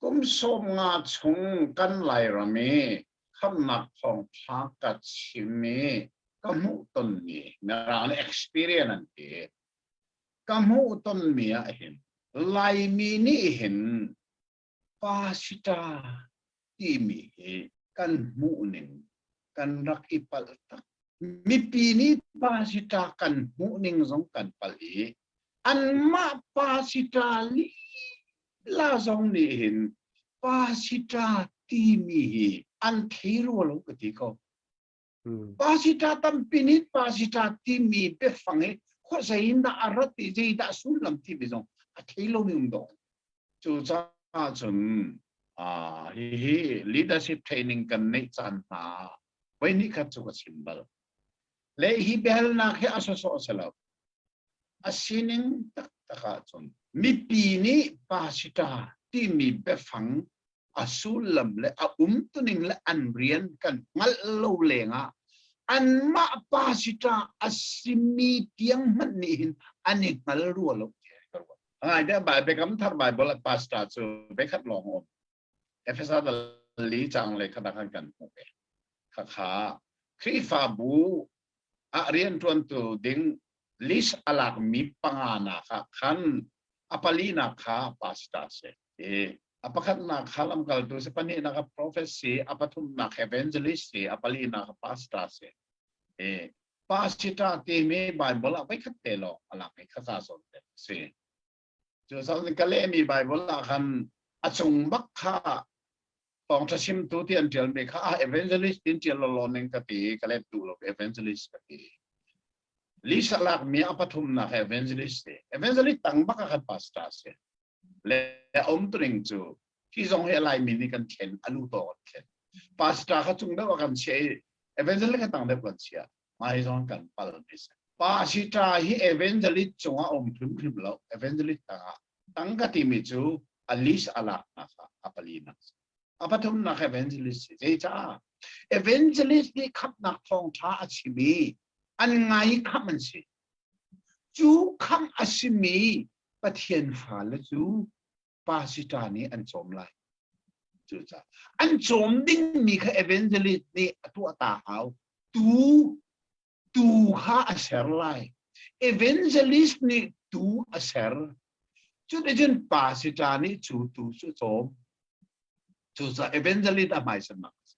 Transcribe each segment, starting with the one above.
Kum sawm nga chung kan Lairam i khamnak thawngtha ka chim i ka hmuh tonmi mirang nih experience an ti ka hmuh tonmi ah hin Laimi nih hin Pasita timi hi kan hmuhning kan rak i palh tak. Mipi nih pasita kan hmuhning zong kan palh i anmah pasita nih la zong nih hin pasita timi hi an thei rua lo ka ti ko. pasita tampi nih pasita timi peffang i khuazei in dah a rat i zeidah sullam timi zong a thei lomi um dawh cucaah cun hihi leadership training kan neih caan hna voi ni khat cu ka chim bal le hi behalnak hi a sawsawh si lo a sining taktak ah cun mipi nih pasita timi biafang a sullam le a umtuning le an rian kan hngalh lo lengah anmah pa si ta a simi tiang hmanh nih hin an i hngal rua lo te ka ruat. Ai da bai Biakam thar Bible at pastor cu bekhat lawng om. Efesa dal li chang le khada kan kan hmu ve. Khakha Khrihfabu ah rianṭuantu ding list a lakmi panga nak ah khan a palinak kha pastor a si. A pakhatnak kha lamkaltu si, pahnihnak a profet si, a pathumnak evangelist si, a palinak a pastor si. Pastor timi Bible ah voikhat te lawng a lang i kha sa sawn te si. cu sakni ka lehmi Bible ah khan a cung bak kha thawngtha chimtu ti an tialmi kha ah evangelist in tial lo ning ka ti ka let tu lo evangelist ka ti Lisa lak mi a pathum nak evangelist si evangelist tang baka khan pastor si le om tuning chu hi zong he lai mi ni kan chen alu to kan chen pastor kha chung deuh kan che evangelist kan tang deuh kan chia hmaizong kan palmi si. Pasita hi evangelist cungah a um hrimhrim lo. Evangelist tangah tangka timi cu a list a laknak a palinak a pathumnak evangelist si zeicah evangelist nih khamnak thawngtha a chimi an ngai kham an si cu kham a simi pathian fale cu pasita nih an cawm lai cucaah an cawm dingmi kha evangelist nih a tuahta hau tu tu kha a ser lai evangelist nih tu a ser cuticun pasita nih cu tu cu cawm cucaah evangelist a hmaisa mak a si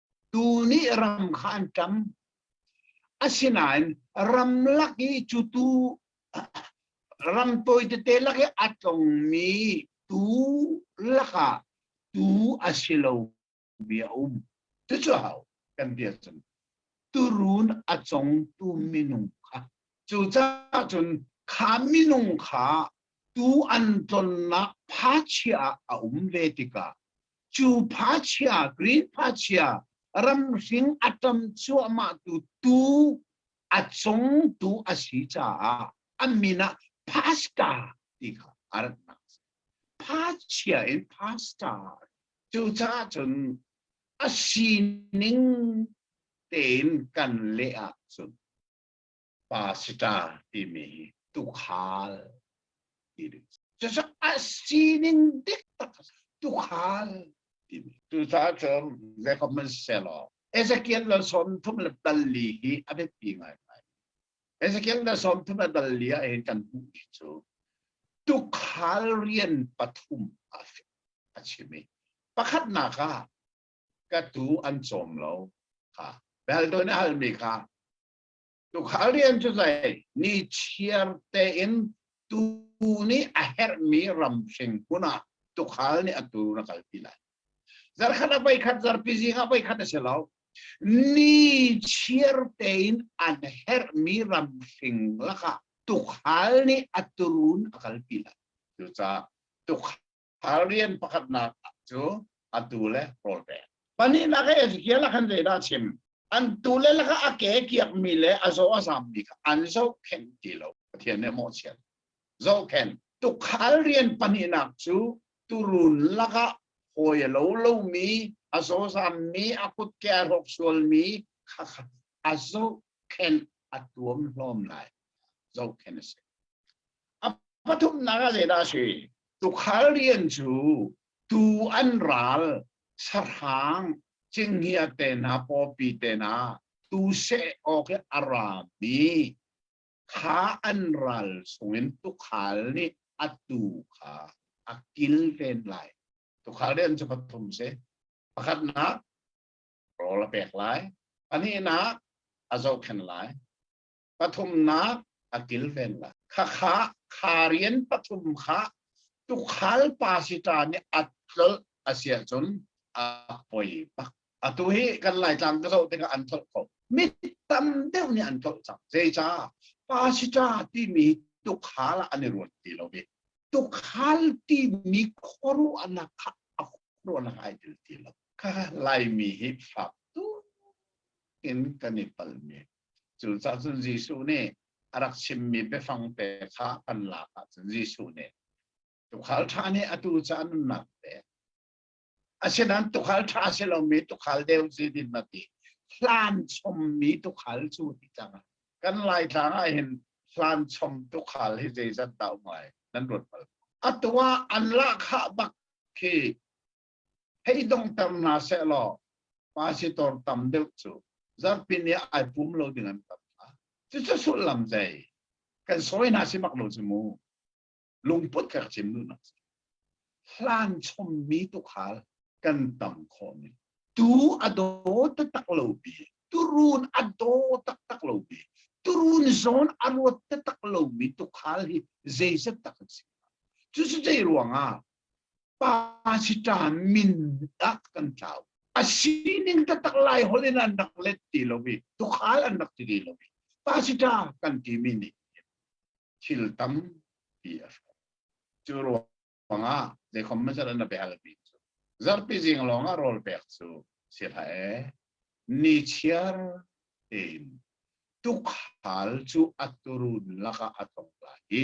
tu nih ram kha an ṭam. Asinain ram lak i cu tu ram tawi tete lak i a tlongmi tu lakah tu a si lo bia a um. Cucu hau kan bia cun turun a congtu minung kha cucaah cun kha minung kha tu an tlonnak phachia ah a um ve tikah cu phachia green phachia ramhring a tam cuahmah tu tu a cong tu a si caah a min ah pasta ti kha a ratnak phachia in pasta cucaah cun a sining tein kan leh ahcun pasita timi hi tukhal timi cusak a sining dik tak tukhal timi cucaah cun ve comment selaw Ezekiel lal som thum le dalli hi a biapi ngai ngai Ezekiel lal som thum le dalli a hin kan hmuh hi cu tukhal rian pathum a a chimi pakhatnak ah ka tu an cawm lo kha beldon hal mi kha Tukhal rian cu hlei ni chiar tein tuu nih a herhmi ramhring hmun ah tukhal nih a tuu na kalpi lai. Zarkhat a voikhat, zarpi zing a voikhat a si lo. Ni chiar tein an herhmi ramhring lakah tukhal nih a turun a kalpi lai. Cucaah tukhal Thar rian pakhatnak cu atu le rawl pek. Pahnihnak ah Ezekiel ah khan zeidah a chim? An tu le laka a ke kiakmi le a zaw a zammi kha an zohkhenh ti lo. Pathian nih a mawhchiat. Zohkhenh. Tukhal rian pahnihnak cu turun lakah hawi a lo lomi, a zawzammi, a kutke a rawk sualmi kha kha a zohkhenh a tuam hlawm lai. Zohkhenh a si. A pathumnak ah zeidah a si? Tukhal rian cu tuu an ral, sahrang, cinghiat te hna, pawpi te hna, tuu seh awk i a rami kha an ral chungin tukhal nih a tuu kha a kil fen lai. Tukhal rian cu pathum si. Pakhatnak, rawl a pek lai. Pahnihnak, a zohkhenh lai. pathumnak a kilven la khakha kha rian pathum kha tukhal pa si ta nih at tlol asia cun a poi pak atu hi kan laitlang ka so tikah an tholh kho mi tam deuh nih an tholh cang zeica pa si ta timi tukhal an i ruat ti lo bi tukhal timi khoru anak kha a khoru anak ai dil ti lo kha laimi hi fak tu in kan i palmi Cucah cun Jesuh nih a rak chimmi biafang te kha kan lak ahcun Jesuh nih tukhal ṭha nih atu ca nunnak pek asinain tukhal ṭha si lomi tukhal deu si din na ti hlan chommi tukhal cu ti cang kan laitlang ah hin hlan chom tukhal hi zeizat dah um ai nan ruat bal atu ah an lah khah bak khi Hei dong tam hna seh law, pasitor tam deuh cu zarhpini ah ai pum lo ding an tam hna. Cucu sullam zei? Kan sawi hna si mak lo cu mu. Lungput ka chim duh nak Hlan chommi tukhal kan tam khawhmi. Tu a daw taktak lomi, turun a daw taktak lomi, turun zon a ruat taktak lomi tukhal hi zeizat tak a si. Cucu zei ruangah? Pa siṭan min ah kan tlau. A sining taktak lai holh in an rak let ti lo i tukhal an rak ti ti lo i pa siṭa kan timi nih thil tam ti a hrawh. Cu ruangah zeikhom mazar an a belmi cu zarpi zing lawngah rawl pek cu si hlah ni chiar tein tukhal cu a turun lakah a tong lai i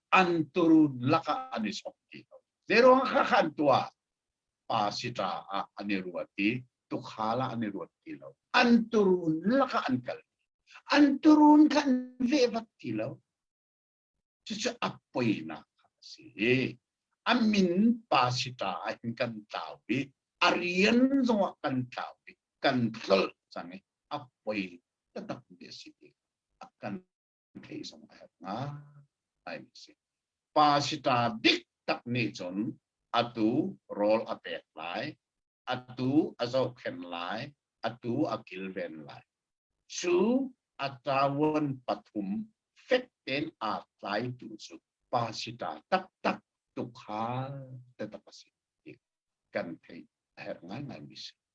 an turun lakah an i chok ti lo zeruang kha khan tuah pa sitra ah an i ruat i tukhal ah an i ruat ti lo an turun lakah an kal an turun khan vevat ti lo cucu a poinak a si i a min pa sitra ah hin kan tlau i a rian zongah kan tlau i kan tlol cang i a poi takmi a si ti a kan thei zong a herh nga ai si pa si ta dik tak nih cun atu rawl a pek lai atu a zohkhen lai atu a kilven lai cu a tawan pathum fek ten a tlaitu cu pa si ta taktak tukhal te tak a si kan thei a herh ngai ngai mi si